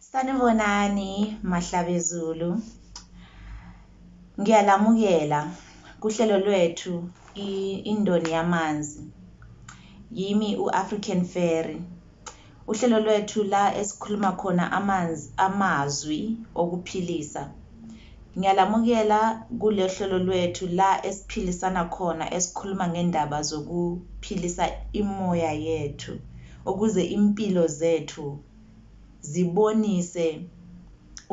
Sanibonani Mahlabezulu. Ngiyalamukela kuhlelo lwethu indoni yamanzi. Yimi u-African Fairy. Uhlelo lwethu la esikhuluma khona amanzi amazwi okuphilisa. Ngiyalamukela kule hlelo lwethu la esiphilisana khona esikhuluma ngendaba zokuphilisa imoya yethu. Ukuze impilo zethu zibonise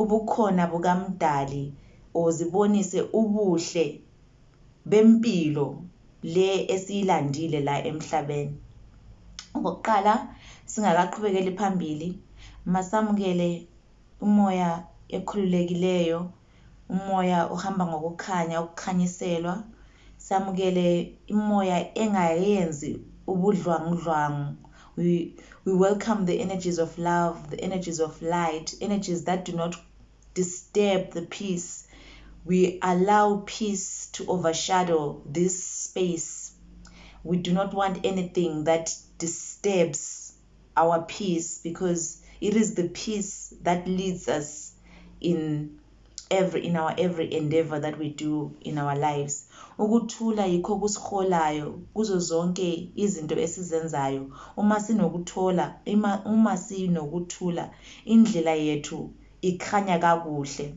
ubukhona bukaMdali or zibonise ubuhle bempilo le esiyilandile la emhlaben. Okokuqala singakaqhubekeli phambili masamukele umoya ekhululekileyo Umoya uhamba ngokukhanya, ukukhanyiselwa. Samukele imoya engayenzi ubudlwangudlwangu. We, we welcome the energies of love, the energies of light, energies that do not disturb the peace. We allow peace to overshadow this space. We do not want anything that disturbs our peace because it is the peace that leads us in every in our every endeavor that we do in our lives ukuthula yikho kusiholayo kuzo zonke izinto esizenzayo uma sinokuthola ima uma sinokuthula indlela yethu ikhanya kakuhle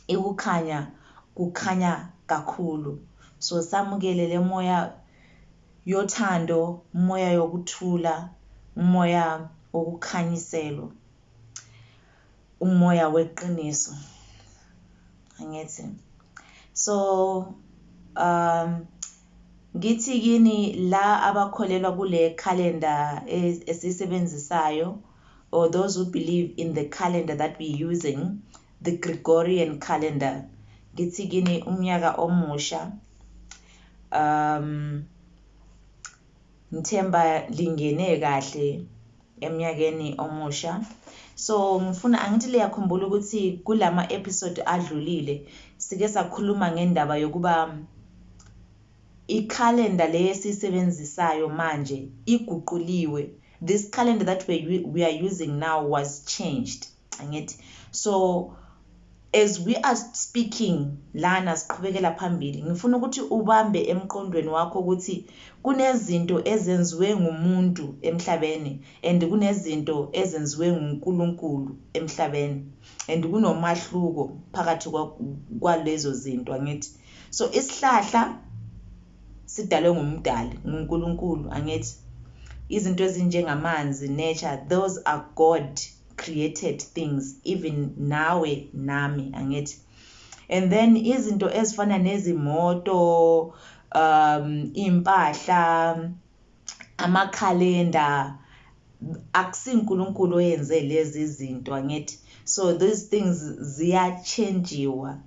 ikukhanya kukhanya kakhulu so samukele lemoya yothando, umoya yokuthula, umoya wokukhanyiselwa, umoya weqiniso. Angithi. So um ngithi kini la abakholelwa kule calendar e, esisebenzisayo or those who believe in the calendar that we using The Gregorian calendar. Ngithi kini umnyaka omusha. Um ngithemba lingene kahle emnyakeni omusha. So ngifuna angithi liyakhumbula ukuthi kulama episode adlulile sike sakhuluma ngendaba yokuba i-calendar le esiyisebenzisayo manje iguquliwe. This calendar that we, we are using now was changed. angithi so as we are speaking lana siqhubekela phambili ngifuna ukuthi ubambe emqondweni wakho ukuthi kunezinto ezenziwe ngumuntu emhlabeni and kunezinto ezenziwe nguNkulunkulu emhlabeni and kunomahluko phakathi kwalezo zinto angithi so isihlahla sidalwe ngumdali nguNkulunkulu angithi izinto ezinjengamanzi nature those are god created things even nawe nami angithi and then izinto ezifana nezimoto um impahla amakhalenda akusinkulunkulu oyenze lezi zinto angithi so these things ziyachenjiwa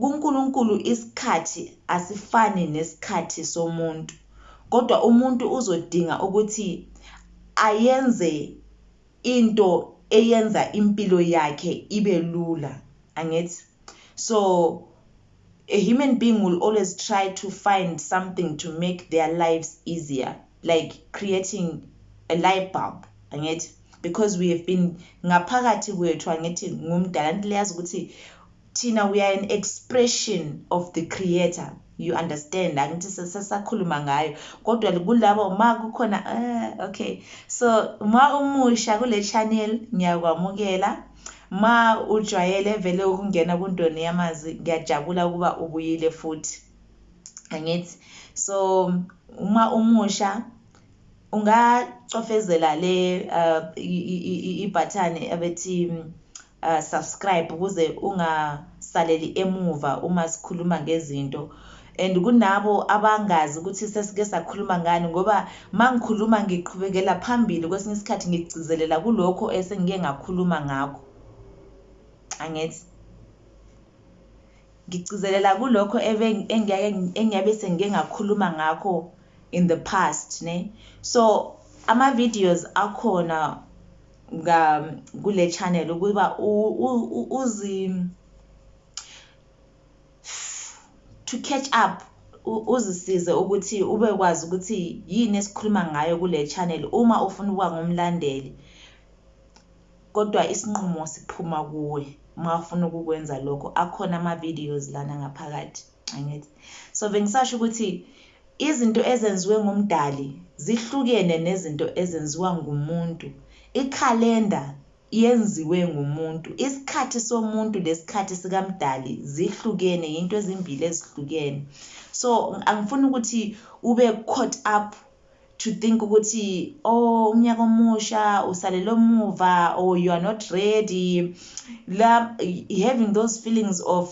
kuNkulunkulu isikhathi asifani nesikhathi somuntu kodwa umuntu uzodinga ukuthi ayenze into eyenza impilo yakhe ibe lula angithi so A human being will always try to find something to make their lives easier like creating a light bulb angithi because we have been ngaphakathi kwethu angithi ngumdala nto leyazi ukuthi thina we are an expression of the creator you understand angithi sesakhuluma ngayo kodwa kulabo ma kukhona uh, okay so uma umusha kule channel ngiyakwamukela Ma ujwayele vele ukungena kuNdoni yamazwi ngiyajabula ukuba ubuyile futhi. Angithi so uma umusha ungacofezela le uh, ibhathani abethi uh, subscribe ukuze ungasaleli emuva uma sikhuluma ngezinto and kunabo abangazi ukuthi sesike sakhuluma ngani ngoba mangikhuluma ngiqhubekela phambili kwesinye isikhathi ngigcizelela kulokho esengike ngakhuluma ngakho angithi ngigcizelela kulokho engiyabe sengike ngakhuluma ngakho in the past ne so ama-videos akhona kule channel ukuba uzi to catch up uzisize ukuthi ube kwazi ukuthi yini esikhuluma ngayo kule channel uma ufuna ukuba ngumlandeli kodwa isinqumo siphuma kuwe uma ufuna ukukwenza lokho akhona ama-videos lana ngaphakathi angithi so bengisasho ukuthi izinto ezenziwe ngumdali zihlukene nezinto ezenziwa ngumuntu ikhalenda yenziwe ngumuntu isikhathi somuntu nesikhathi sikamdali zihlukene yinto ezimbili ezihlukene so angifuni ukuthi ube caught up to think ukuthi oh umnyaka omusha usalele omuva or you are not ready la having those feelings of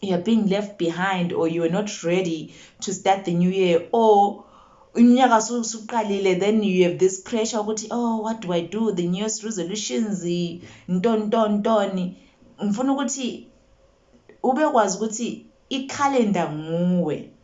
you're being left behind or you're not ready to start the new year or unyaka suqalile then you have this pressure ukuthi oh what do i do the new year's resolutions ntoni ntoni ntoni ngifuna ukuthi ubekwazi ukuthi ikhalenda nguwe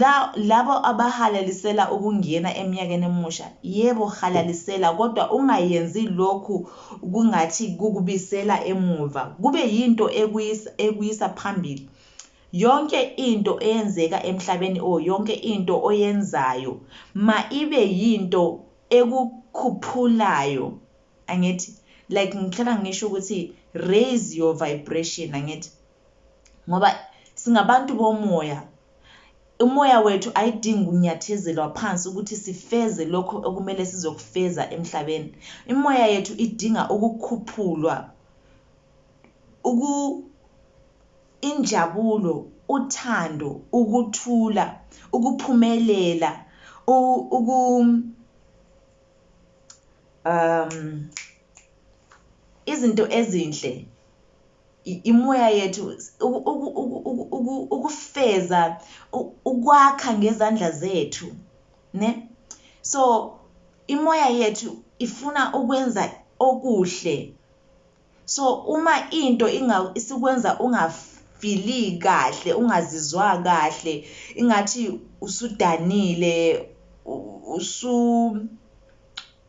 La, labo abahalalisela ukungena emnyakeni emusha, yebo, halalisela, kodwa ungayenzi lokhu kungathi kukubisela emuva, kube yinto ekuyisa, ekuyisa phambili. Yonke into eyenzeka emhlabeni, o, yonke into oyenzayo, ma ibe yinto ekukhuphulayo, angithi? Like, ngihlala ngisho ukuthi, raise your vibration, angithi? ngoba singabantu bomoya umoya wethu ayidingi ukunyathezelwa phansi ukuthi sifeze lokho okumele sizokufeza emhlabeni imoya yethu idinga ukukhuphulwa uku injabulo uthando ukuthula ukuphumelela uku um izinto ezinhle imoya yethu ukufeza ukwakha ngezandla zethu ne so imoya yethu ifuna ukwenza okuhle so uma into isikwenza ungafili kahle ungazizwa kahle ingathi usudanile usu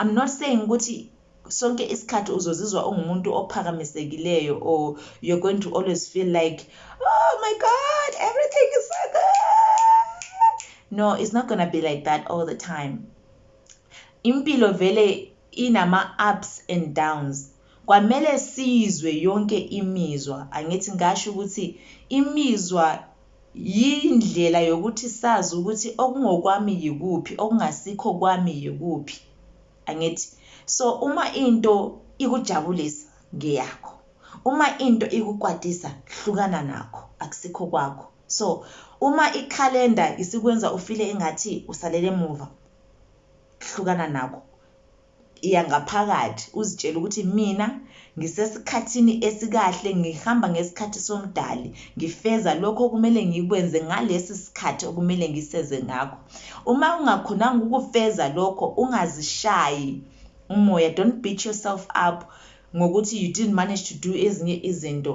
I'm not saying ukuthi sonke isikhathi uzozizwa ungumuntu ophakamisekileyo or you're going to always feel like oh my god everything is so good no it's not gonna be like that all the time impilo vele inama-ups and downs Kwamele siyizwe yonke imizwa, angithi ngasho ukuthi imizwa yindlela yokuthi sazi ukuthi okungokwami yikuphi, okungasikho kwami yikuphi, angithi? So uma into ikujabulisa ngeyakho, uma into ikukwatisa hlukana nakho akusikho kwakho. So uma ikhalenda isikwenza ufile engathi usalele emuva, hlukana nakho. Iya ngaphakathi uzitshele ukuthi mina ngisesikhathini esikahle, ngihamba ngesikhathi soMdali, ngifeza lokho okumele ngikwenze ngalesi sikhathi okumele ngiseze ngakho. Uma ungakhonanga ukufeza lokho, ungazishayi umoya, don't beat yourself up ngokuthi you didn't manage to do ezinye izinto.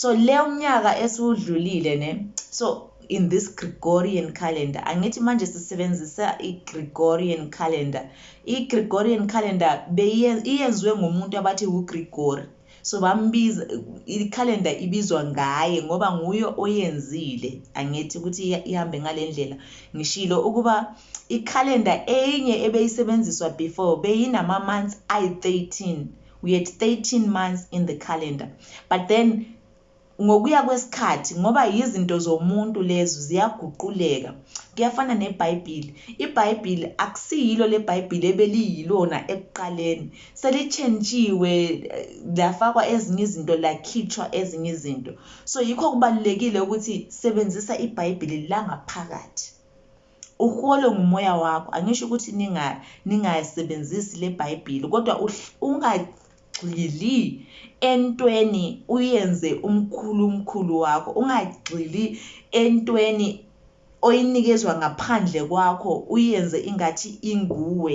so le umnyaka esiwudlulile ne so in this Gregorian calendar angithi manje sisebenzisa iGregorian calendar iGregorian calendar beyenziwe ngumuntu abathi uGregory so bambiza ikhalenda ibizwa ngaye ngoba nguye oyenzile angithi ukuthi ihambe ngalendlela ngishilo ukuba ikhalenda enye ebeyisebenziswa before beyinama months ayi 13 we had 13 months in the calendar but then ngokuya kwesikhathi ngoba yizinto zomuntu lezo ziyaguquleka kuyafana nebhayibhili ibhayibhili akusiyilo le bhayibhili ebeliyilona ekuqaleni selitshentshiwe eh, lafakwa ezinye izinto lakhitshwa ezinye izinto so yikho kubalulekile ukuthi sebenzisa ibhayibhili langaphakathi Uholwe ngumoya wakho. Angisho ukuthi ninga ningasebenzisi leBhayibheli kodwa ungagxili entweni uyenze umkhulu umkhulu wakho. Ungagxili entweni oyinikezwa ngaphandle kwakho uyenze ingathi inguwe.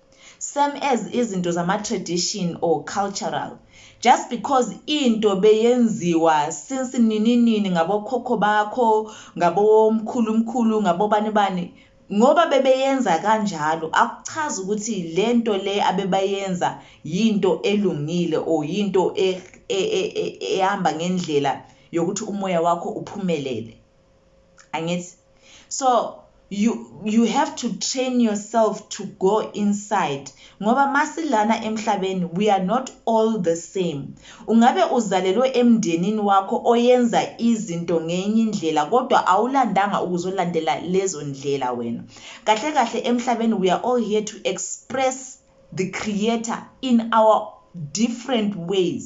Same as izinto zama tradition or cultural. Just because into beyenziwa since nini nini ngabo khokho bakho, ngabo mkhulu mkhulu, ngabo bani bani. Ngoba bebeyenza kanjalo akuchazi ukuthi lento le abebayenza yinto elungile or yinto e, e, e, ehamba ngendlela yokuthi umoya wakho uphumelele. Angithi? so you you have to train yourself to go inside ngoba masilana emhlabeni we are not all the same ungabe uzalelwe emndenini wakho oyenza izinto ngenye indlela kodwa awulandanga ukuzolandela lezo ndlela wena kahle kahle emhlabeni we are all here to express the creator in our different ways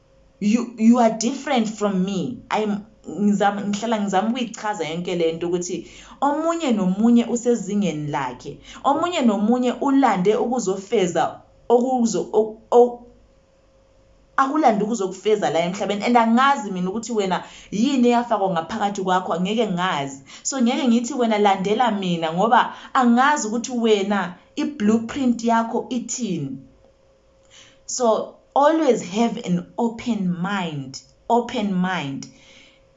you, you are different from me I'm ngizama ngihlala ngizama ukuyichaza yonke lento ukuthi omunye nomunye usezingeni lakhe omunye nomunye ulande ukuzofeza okuzo akulande ukuzokufeza la emhlabeni and angazi mina ukuthi wena yini eyafakwa ngaphakathi kwakho ngeke ngazi so ngeke ngithi wena landela mina ngoba angazi ukuthi wena i-blueprint yakho ithini so always have an open mind open mind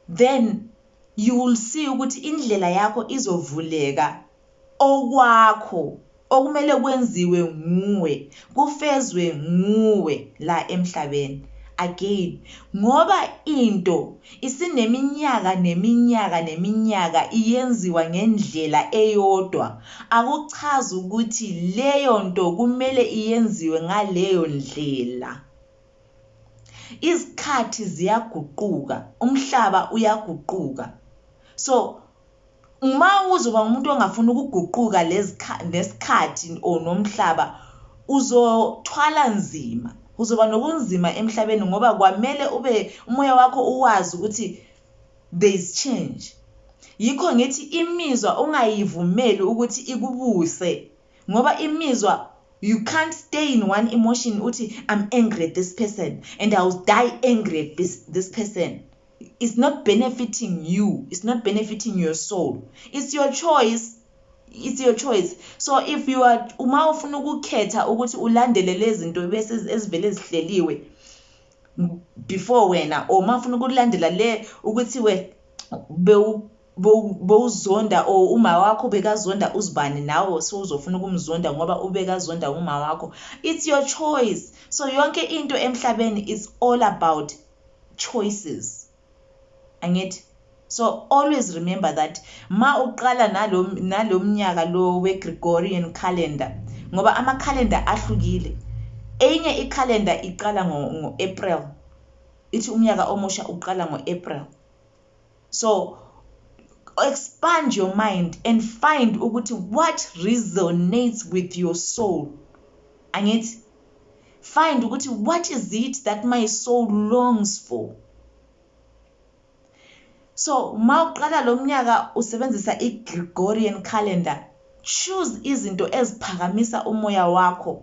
then you will see ukuthi indlela yakho izovuleka okwakho okumele kwenziwe nguwe kufezwe nguwe la emhlabeni again ngoba into Isineminyaka neminyaka neminyaka iyenziwa ngendlela eyodwa, akuchazi ukuthi leyo nto kumele iyenziwe ngaleyo ndlela. Izikhathi ziyaguquka, umhlaba uyaguquka. So, Uma uzoba umuntu ongafuni ukuguquka nesikhathi or nomhlaba uzothwala nzima, kuzoba nokunzima emhlabeni ngoba kwamele ube umoya wakho uwazi ukuthi there is change. Yikho ngithi imizwa ungayivumeli ukuthi ikubuse. Ngoba imizwa you can't stay in one emotion uthi I'm angry at this person and I will die angry at this this person it's not benefiting you it's not benefiting your soul it's your choice it's your choice so if you are uma ufuna ukukhetha ukuthi ulandele lezinto bese ezivele zihleliwe before wena or uma ufuna ukulandela le ukuthi we bowuzonda or uma wakho ubekazonda uzibani nawe so uzofuna ukumzonda ngoba ubekazonda uma wakho it's your choice so yonke into emhlabeni is all about choices angithi so always remember that ma uqala nalo nalo mnyaka lo we Gregorian calendar ngoba ama calendar ahlukile enye i calendar iqala ngo, ngo April ithi umnyaka omusha uqala ngo April so expand your mind and find ukuthi what resonates with your soul angithi find ukuthi what is it that my soul longs for so uma uqala lo mnyaka usebenzisa i-gregorian calendar choose izinto eziphakamisa umoya wakho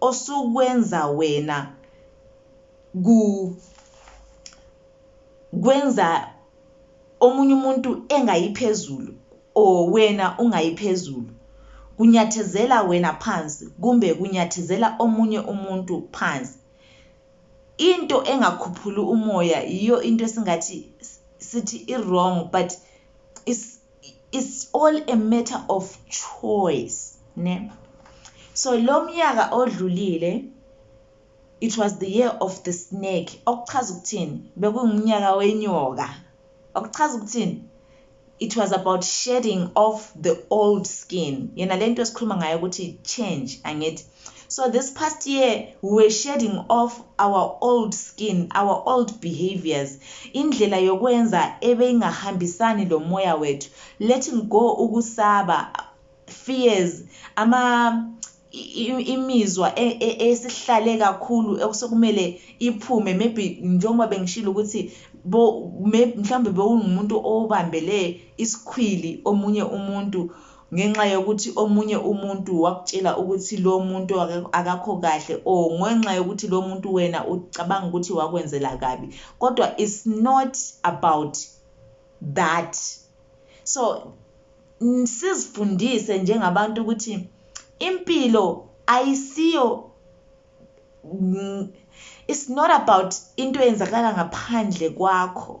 osukwenza wena ku kwenza omunye umuntu engayiphezulu or wena ungayiphezulu kunyathezela wena phansi kumbe kunyathezela omunye umuntu phansi into engakhuphuli umoya yiyo into esingathi sithi i-wrong but is it's all a matter of choice ne so lo myaka odlulile it was the year of the snake okuchaza ukuthini bekungumnyaka wenyoka okuchaza ukuthini it was about shedding off the old skin yena lento esikhuluma ngayo ukuthi change angithi So this past year we were shedding off our old skin, our old behaviors, indlela yokwenza ebeyingahambisani lo moya wethu, letting go ukusaba, fears, ama imizwa e, e, esihlale kakhulu okusekumele iphume maybe njengoba bengishilo ukuthi mhlawumbe bewungumuntu obambele isikhwili omunye umuntu ngenxa yokuthi omunye umuntu wakutshela ukuthi lo muntu akakho kahle or ngenxa yokuthi lo muntu wena ucabanga ukuthi wakwenzela kabi kodwa it's not about that so sizifundise njengabantu ukuthi impilo ayisiyo it's not about into eyenzakala ngaphandle kwakho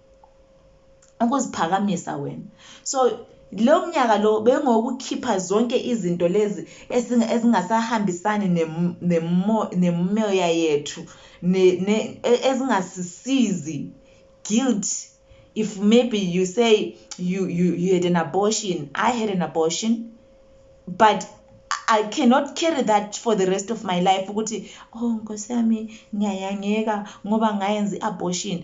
ukuziphakamisa wena so lo mnyaka lo bengokukhipha zonke izinto lezi ezingasahambisani nemoya yethu e, ezingasisizi guilt if maybe you say you, you, you had an abortion i had an abortion but I cannot carry that for the rest of my life ukuthi oh nkosi yami ngiyayangeka ngoba ngayenza i-abortion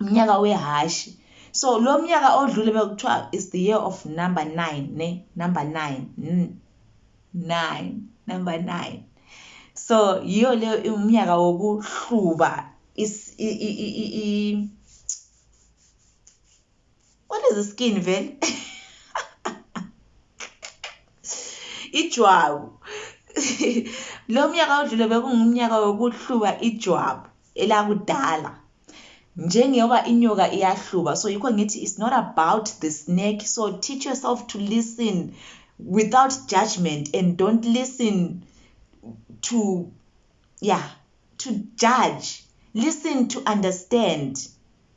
umnyaka wehhashi so lo mnyaka odlule bekuthiwa is the year of number nine ne number nine mm. nine number nine so yiyo leyo umnyaka wokuhluba what is the skin vele ijwabu lo myaka odlule bekungumnyaka wokuhluba ijwabu elakudala njengoba inyoka iyahluba so yikho ngithi it's not about the snake so teach yourself to listen without judgment and don't listen to yeah to judge listen to understand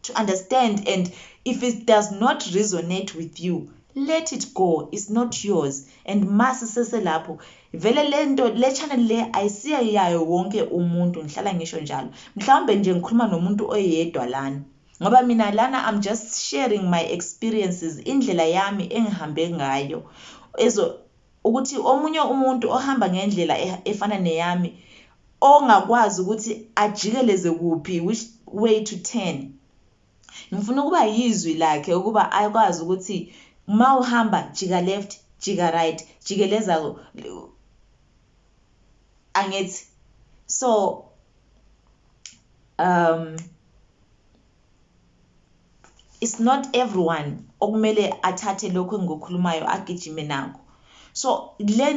to understand and if it does not resonate with you let it go is not yours and masi seselapho vele lento le channel le ayisiya yayo wonke umuntu ngihlala ngisho njalo mhlawumbe nje ngikhuluma nomuntu oyedwa lana ngoba mina lana i'm just sharing my experiences indlela yami engihambe ngayo ezo ukuthi omunye umuntu ohamba ngendlela e-, efana neyami ongakwazi ukuthi ajikeleze kuphi which way to turn ngifuna ukuba yizwi lakhe ukuba akwazi ukuthi uma uhamba jika left jika right jikeleza angithi so um it's not everyone okumele athathe lokho engikukhulumayo agijime nako so le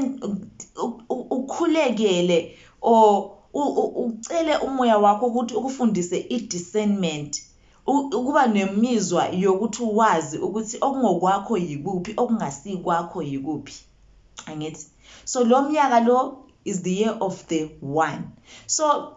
ukhulekele or ucele umoya wakho ukuthi ukufundise i-discernment ukuba nemizwa yokuthi wazi ukuthi okungokwakho yikuphi okungasikwakho yikuphi angithi so lo myaka lo is the year of the one so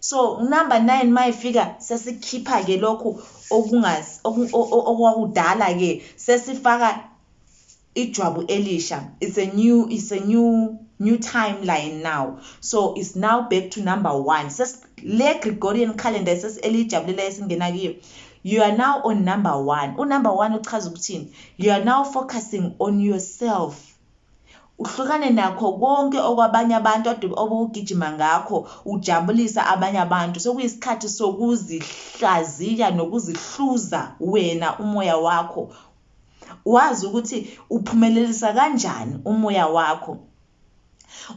So number 9 mayifika sesikhipha ke lokhu okungazi okwakudala ke sesifaka ijwabu elisha it's a new it's a new new timeline now so it's now back to number 1 ses le Gregorian calendar ses elijabulela esingena kiyo you are now on number 1 u number 1 uchaza ukuthini you are now focusing on yourself Uhlukane nakho konke okwabanye abantu ade obugijima ngakho ujabulisa abanye abantu. Sekuyisikhathi sokuzihlaziya nokuzihluza wena umoya wakho, wazi ukuthi uphumelelisa kanjani umoya wakho,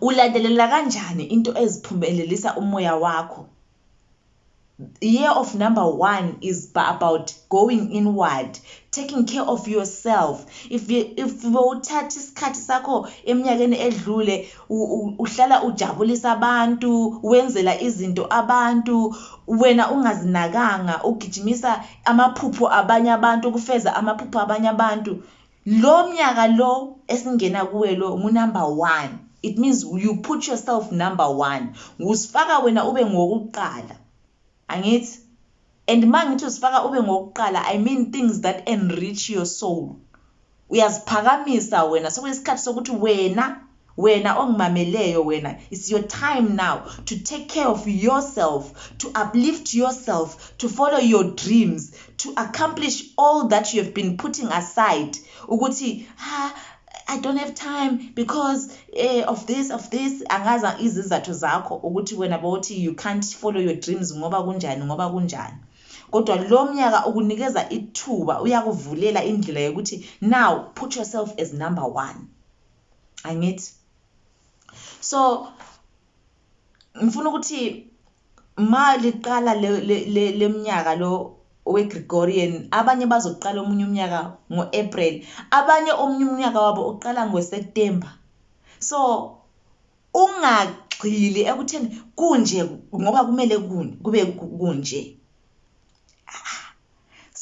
ulandelela kanjani into eziphumelelisa umoya wakho. year of number one is about going inward taking care of yourself if if bowuthatha isikhathi sakho eminyakeni edlule uhlala ujabulisa abantu wenzela izinto abantu wena ungazinakanga ugijimisa amaphupho abanye abantu ukufeza amaphupho abanye abantu Lo mnyaka lo esingena kuwe lo ngu number one it means you put yourself number one uzifaka wena ube ngowokuqala angithi and mangithi uzifaka ube ngowokuqala I mean things that enrich your soul uyaziphakamisa wena sekuyisikhathi sokuthi wena Wena ongimameleyo wena it's your time now to take care of yourself to uplift yourself to follow your dreams to accomplish all that you have been putting aside ukuthi ha ah, I don't have time because eh, of this of this angaza izizathu zakho ukuthi wena bawuthi you can't follow your dreams ngoba kunjani ngoba kunjani kodwa lo mnyaka ukunikeza ithuba uyakuvulela indlela yokuthi now put yourself as number one angithi so ngifuna ukuthi ma liqala leminyaka lo we-Gregorian abanye bazoqala omunye umnyaka ngo-April abanye omunye umnyaka wabo uqala ngoSeptember so ungagxili ekutheni kunje ngoba kumele kube kunje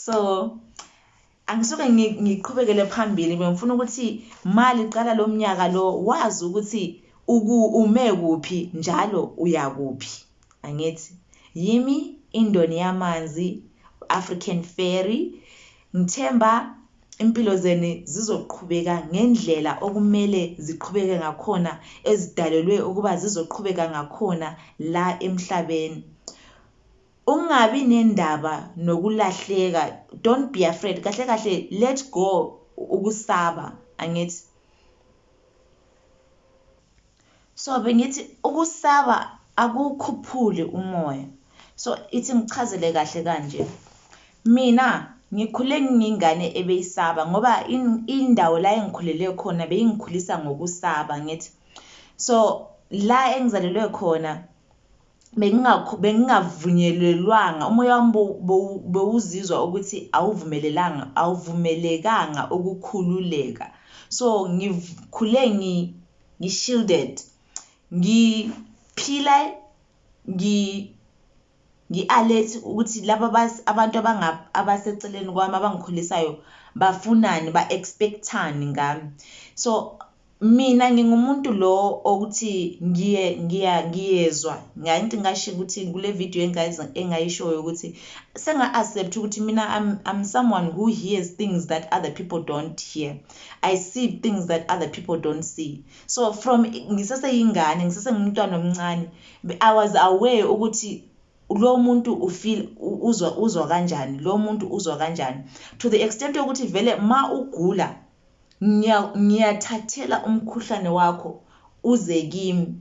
so Angisuke ngiqhubekele phambili bengifuna ukuthi mali qala lomnyaka lo wazi ukuthi uku ume kuphi njalo uyakuphi angithi yimi indoni yamanzi African Ferry ngithemba impilo zenu zizoqhubeka ngendlela okumele ziqhubeke ngakhona ezidalelwe ukuba zizoqhubeka ngakhona la emhlabeni Ungabi nendaba nokulahleka don't be afraid kahle kahle let go ukusaba angithi so bengithi ukusaba akukhuphuli umoya so ithi ngichazele kahle kanje mina ngikhule ngingane ebeyisaba ngoba indawo la engikhulele khona beyingikhulisa ngokusaba ngithi so la engizalelwe khona bengingakho bengingavunyelelwanga umoya wami bewuzizwa ukuthi awuvumelelanga awuvumelekanga ukukhululeka so ngikhule ngi ngishielded ngiphila ngi ngi-alert ukuthi laba abantu abaseceleni kwami abangikhulisayo bafunani ba-expect-ani ngami so Mina ngingumuntu lo okuthi ngiye ngiya ngiyezwa ngathi ngasho ukuthi kule video engayiza engayishoyo ukuthi senga accept ukuthi mina I'm, I'm someone who hears things that other people don't hear I see things that other people don't see so from ngiseseyingane ngisesengumntwana omncane I was aware ukuthi lo muntu ufeel uzwa uzwa kanjani lo muntu uzwa kanjani to the extent yokuthi vele ma ugula Ngiya, ngiyathathela umkhuhlane wakho uze kimi.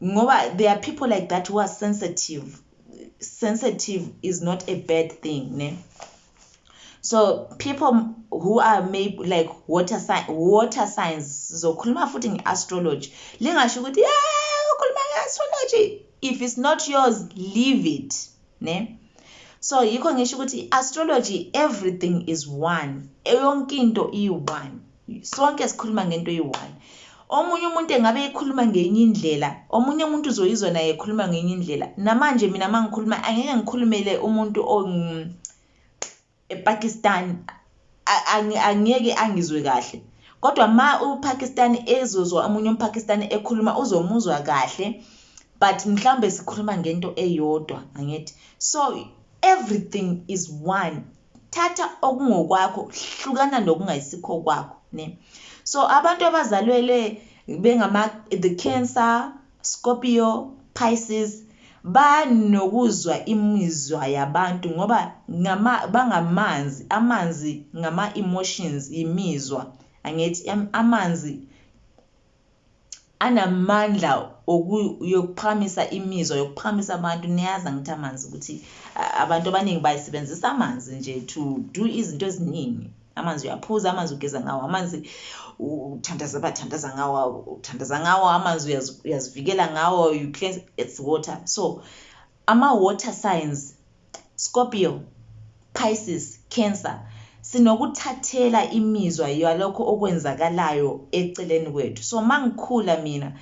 Ngoba there are people like that who are sensitive. Sensitive is not a bad thing, ne? So people who are maybe like water sign, water signs sizokhuluma futhi ngeastrology. Lingasho ukuthi yeah ukhuluma ngeastrology if it's not yours leave it. ne so yikho ngisho ukuthi i-astrology everything is one yonke into iyi-one sonke sikhuluma ngento eyi-one omunye umuntu engabe ekhuluma ngenye indlela omunye umuntu uzoyizwa naye ekhuluma ngenye indlela namanje mina uma ngikhuluma angeke ngikhulumele umuntu ePakistan angeke angizwe kahle kodwa ma uPakistan ezozwa omunye umPakistan ekhuluma uzomuzwa kahle but mhlawumbe sikhuluma ngento eyodwa angithi so everything is one thatha okungokwakho hlukana nokungayisikho kwakho ne so abantu abazalwele bengama the cancer Scorpio, Pisces, Banokuzwa imizwa yabantu ngoba ngama bangamanzi, amanzi ngama emotions yimizwa angithi amanzi anamandla oku yokuphakamisa imizwa yokuphakamisa abantu niyazi angithi amanzi ukuthi abantu abaningi bayisebenzisa amanzi nje to do izinto eziningi. amanzi uyaphuza amanzi ugeza ngawo amanzi uthandaza bathandaza ngawo uthandaza ngawo amanzi uyazivikela ngawo you cleanse it's water so ama-water signs scorpio pisces cancer sinokuthathela imizwa yalokho okwenzakalayo eceleni kwethu so mangikhula mina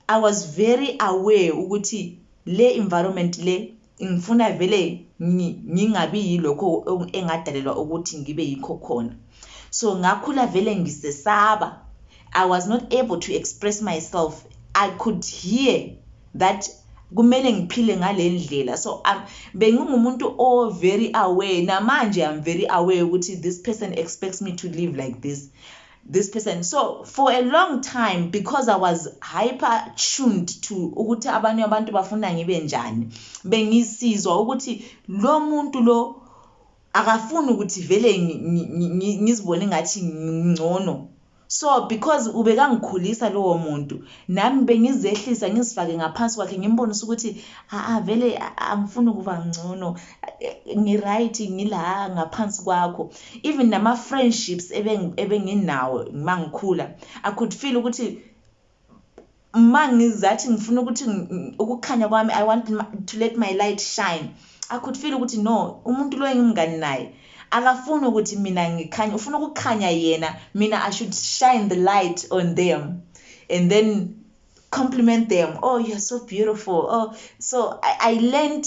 I was very aware ukuthi le environment le ngifuna vele ngingabi yilokho engadalelwa ukuthi ngibe yikho khona so ngakhula vele ngisesaba i was not able to express myself i could hear that kumele ngiphile ngale ndlela so um, bengingumuntu o very aware namanje i'm very aware ukuthi this person expects me to live like this this person so for a long time because i was hyper tuned to ukuthi abanye abantu bafuna ngibe njani bengisizwa ukuthi lo muntu lo akafuni ukuthi vele ngizibone ngathi ngcono so because ubekangikhulisa lowo muntu nami bengizehlisa ngizifake ngaphansi kwakhe ngimbonisa ukuthi aa vele angifuni ukuba ngcono ngi-right ngila ngaphansi kwakho Even nama friendships ebenginawo mangikhula I could feel ukuthi mangizathi ngifuna ukuthi ukukhanya kwami I want to let my light shine I could feel ukuthi no umuntu lo engimngani naye akafuni ukuthi mina ngikhanye ufuna ukukhanya yena mina I should shine the light on them and then compliment them oh you're so beautiful oh so I, I learned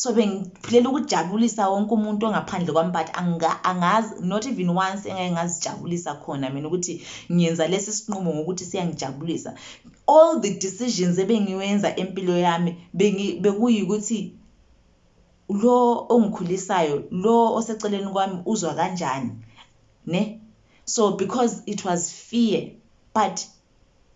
so bengiphilela ukujabulisa wonke umuntu ongaphandle kwami but angazi not even once engake ngazijabulisa khona mina ukuthi ngiyenza lesi sinqumo ngokuthi siyangijabulisa all the decisions ebengiwenza empilo yami bekuyikuthi lo ongikhulisayo lo oseceleni kwami uzwa kanjani ne so because it was fear but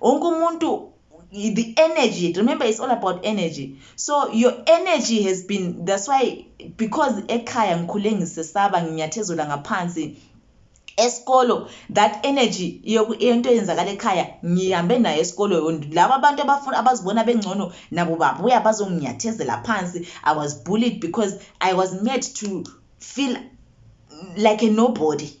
wonke umuntu the energy remember it's all about energy so your energy has been that's why because ekhaya ngikhule ngisesaba nginyathezela ngaphansi esikolo that energy into eyenzakala ekhaya ngihambe nayo esikolo laba abantu abafuna abazibona bengcono nabo babuya bazonginyathezela phansi i was bullied because i was made to feel like a nobody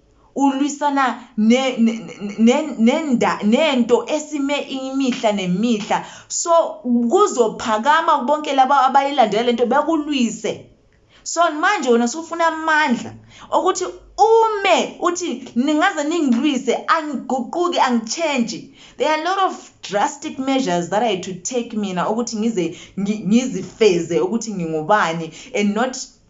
Ulwisana ne, ne, ne, nenda, nento esime imihla nemihla. So, kuzophakama bonke laba abayilandela lento bekulwise. So, manje wena usufuna amandla okuthi ume uthi ningaze ningilwise angiguquki angitshentshi there are a lot of drastic measures that i to take mina ukuthi ngize ngizifeze ukuthi ngingubani and not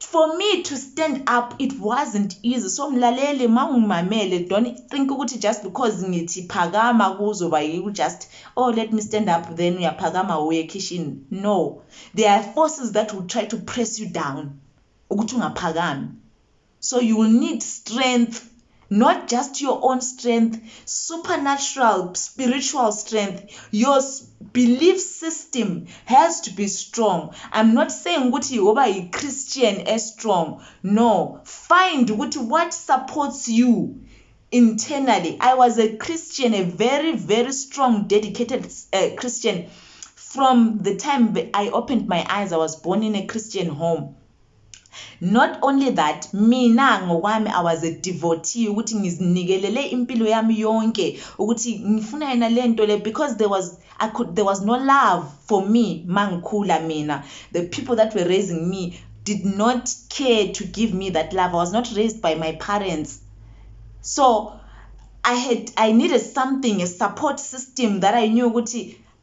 for me to stand up it wasn't easy so mlaleli mawungimamele don't think ukuthi just because ngithi phakama kuzoba yiku just oh let me stand up then uyaphakama uye kitchen no there are forces that will try to press you down ukuthi ungaphakami so you will need strength not just your own strength supernatural spiritual strength your belief system has to be strong i'm not saying ukuthi yoba yi-christian e-strong no find ukuthi what supports you internally i was a christian a very very strong dedicated uh, christian from the time i opened my eyes i was born in a christian home Not only that mina ngokwami I was a devotee ukuthi ngizinikelele impilo yami yonke ukuthi ngifuna yena lento le because there was I could there was no love for me mangikhula mina the people that were raising me did not care to give me that love I was not raised by my parents so I had I needed something a support system that I knew ukuthi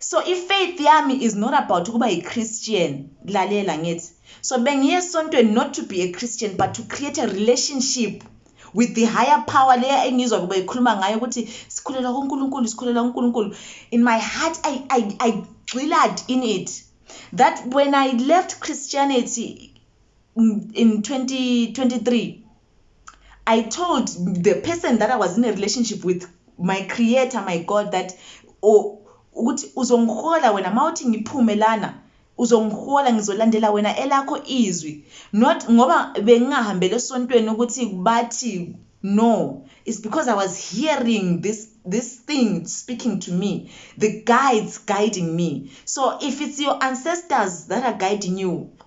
So i faith yami is not about ukuba yi Christian lalela ngithi so bengiye esontweni not to be a Christian but to create a relationship with the higher power leya engizwa kuba ikhuluma ngayo ukuthi sikhulela kuNkulunkulu sikhulela kuNkulunkulu in my heart I I I gxilad in it that when I left Christianity in 2023 I told the person that I was in a relationship with my creator, my God, that oh, ukuthi uzongihola wena mawuthi ngiphume lana uzongihola ngizolandela wena elakho izwi not ngoba bengingahambele esontweni ukuthi bathi no it's because i was hearing this this thing speaking to me the guides guiding me so if it's your ancestors that are guiding you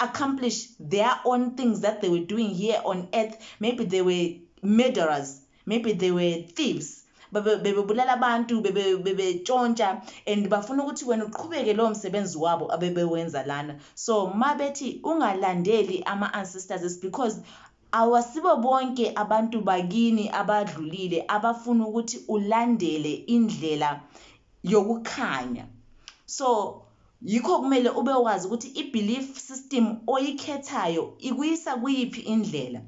accomplish their own things that they were doing here on earth maybe they were murderers maybe they were thieves bebebulala abantu bebetshontsha and bafuna ukuthi wena uqhubeke lowo msebenzi wabo abebewenza lana so ma bethi ungalandeli ama-ancestors is because awasibo bonke abantu bakini abadlulile abafuna ukuthi ulandele indlela yokukhanya so Yikho kumele ube wazi ukuthi i-belief system oyikhethayo ikuyisa kuyiphi indlela.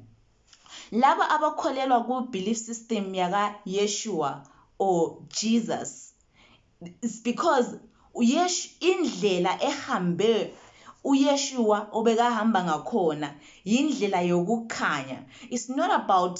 Labo abakholelwa ku-belief system yaka Yeshua or Jesus it's because uYesh indlela ehambe uYeshua obekahamba ngakhona yindlela yokukhanya. It's not about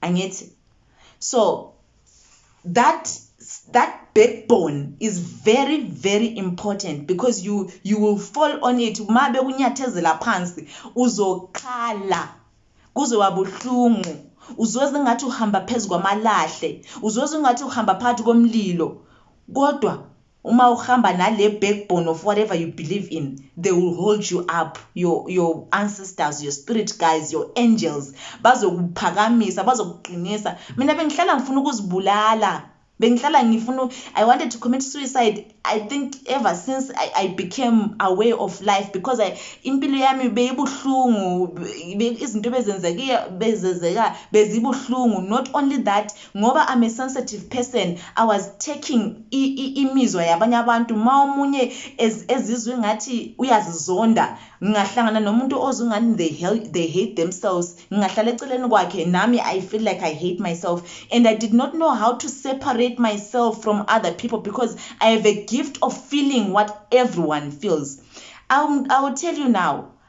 angithi so that that backbone is very very important because you you will fall on it uma bekunyathezela phansi uzokhala kuze wabuhlungu uzozwa ngathi uhamba phezu kwamalahle uzozwa ngathi uhamba phakathi komlilo kodwa Uma uhamba nale backbone of whatever you believe in, they will hold you up. Your, your ancestors, your spirit guys, your angels, bazokuphakamisa, bazokuqinisa. Mina bengihlala ngifuna ukuzibulala. Bengihlala ngifuna I wanted to commit suicide. I think ever since I, I became aware of life because I impilo yami beyibuhlungu, izinto bezenzeka bezenzeka bezibuhlungu. Not only that, Ngoba I'm a sensitive person I was taking i, i, imizwa yabanye abantu ma omunye ez, ezizwa ingathi uyazizonda ngingahlangana nomuntu ozwa ingani they, hel- they hate themselves ngingahlala eceleni kwakhe nami I feel like I hate myself and I did not know how to separate myself from other people because I have a gift of feeling what everyone feels I'll, I'll tell you now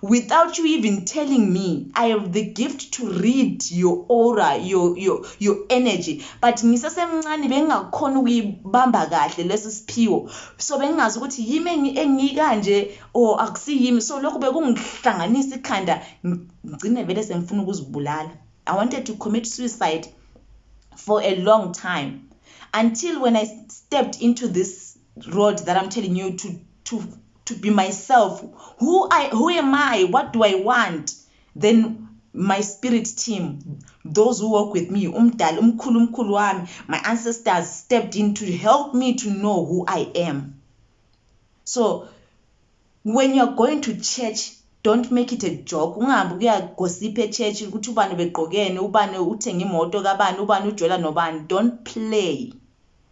Without you even telling me, I have the gift to read your aura, your, your, your energy. But ngisesemncane bengingakhona ukuyibamba kahle lesi siphiwo. So bengingazi ukuthi yimi engikanje or akusiyimi. So lokho bekungihlanganisa ikhanda ngigcine vele sengifuna ukuzibulala. I wanted to commit suicide for a long time until when I stepped into this road that I'm telling you to to to be myself who i who am i what do i want then my spirit team those who work with me umdali umkhulu umkhulu wami my ancestors stepped in to help me to know who i am so when you're going to church don't make it a joke ungahambi kuyagosipha echurch ukuthi ubani begqokene ubani uthenge imoto kabani ubani ujola nobani don't play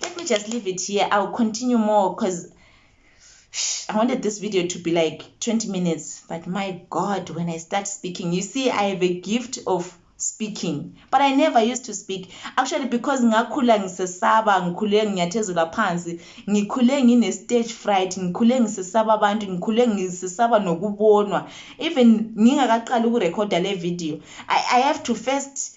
Let me just leave it here. I'll continue more because I wanted this video to be like 20 minutes. But my God, when I start speaking, you see, I have a gift of speaking but i never used to speak actually because ngakhula ngisesaba ngikhule nginyathezula phansi ngikhule ngine stage fright ngikhule ngisesaba abantu ngikhule ngisesaba nokubonwa even ngingakaqali ukurekhoda le video I, i have to first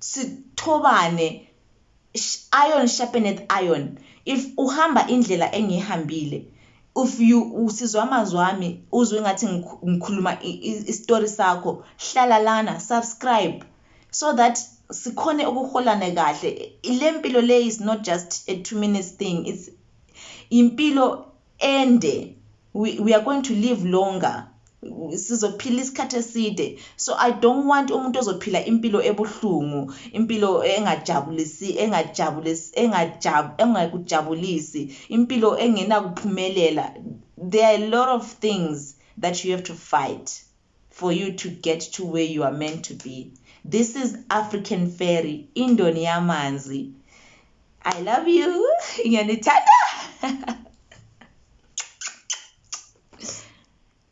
sithobane iron sharpeneth iron if uhamba indlela engiyihambile if you usizwa amazwi ami uzwe ngathi ngikhuluma isitori sakho hlala lana subscribe so that sikhone ukuholana kahle le mpilo le is not just a two minutes thing it's impilo ende we, we are going to live longer sizophila isikhathi eside so i don't want umuntu ozophila impilo ebuhlungu impilo engajabulisi engajabulisi engajab engakujabulisi impilo engenakuphumelela there are a lot of things that you have to fight for you to get to where you are meant to be this is african fairy indoni yamanzi i love you ngiyanithanda